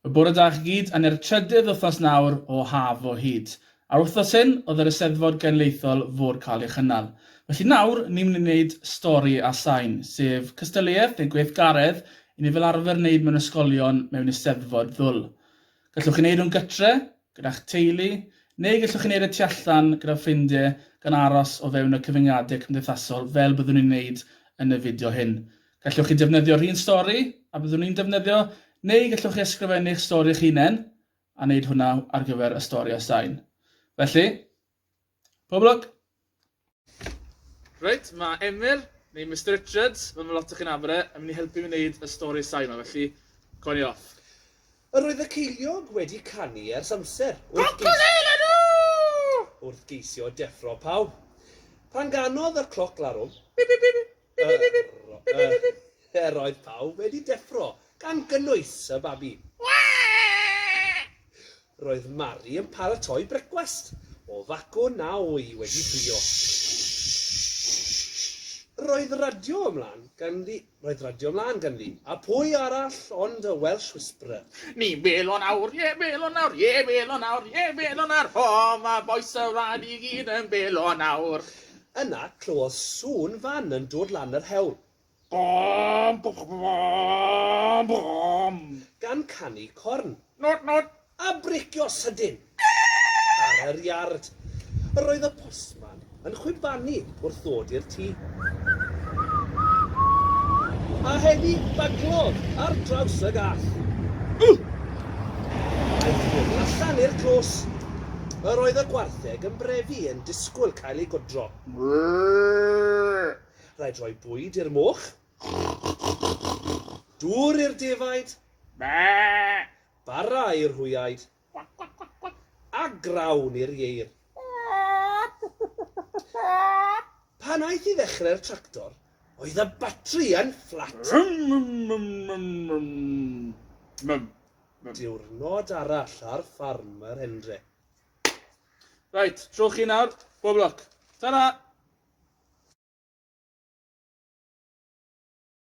Y bore da chi gyd, a ne'r trydydd wythnos nawr o haf o hyd. A'r wythnos hyn oedd yr Eisteddfod Genedlaethol fod cael ei chynnal. Felly nawr, ni'n mynd i wneud stori a sain, sef cystadleuaeth neu gweithgaredd i ni fel arfer wneud mewn ysgolion mewn Eisteddfod ddwl. Gallwch chi wneud hwn gytre, gyda'ch teulu, neu gallwch chi wneud e tu allan gyda ffrindiau gan aros o fewn y cyfyngiadau cymdeithasol fel byddwn ni'n wneud yn y fideo hyn. Gallwch chi defnyddio rhun stori a byddwn ni'n defnyddio neu gallwch chi ysgrifennu'ch stori eich hunain a wneud hwnna ar gyfer y stori a sain. Felly, pob lwc! Reit, mae Emyr, neu Mister Richards, fel mae lot o chi'n nabod e, yn mynd i helpu fi wneud y stori sain yma, felly, coen i off. Yr oedd y ceiliog wedi canu ers amser wrth geisio... wrth geisio deffro pawb. Pan ganodd y cloc larwm, bip bip bip bip. Er roedd pawb wedi deffro, gan gynnwys y babi. Roedd Mari yn paratoi brecwast o fagwn a wy wedi ffrio. Roedd radio ymlaen ganddi, roedd radio ymlaen ganddi, a pwy arall ond y Welsh Whisperer. Ni welo nawr, ie welo nawr, ie welo nawr, ie welo nawr, ho, mae bois y wlad i gyd yn welo nawr. Yna clywodd sŵn fan yn dod lan yr hewl. Bom! Bom! Bom! Gan canu corn. Nôt! Nôt! A bricio sydyn! Ar yr iard. Yr oedd y postman yn chwibanu wrth ddod i'r tŷ. A heddi baglodd ar draws y gall. Aeth hwn allan i'r clos. Yr oedd y gwartheg yn brefu yn disgwyl Cael ei godro. Rhaid rhoi bwyd i'r moch. Dŵr i'r defaid. Bara i'r hwyaid. A grawn i'r ieir. Pan aeth i ddechrau'r tractor, oedd y batri yn fflat. Diwrnod arall ar ffarm yr Hendre. Right, tro chi nawr. Bob lwc. Ta-ra!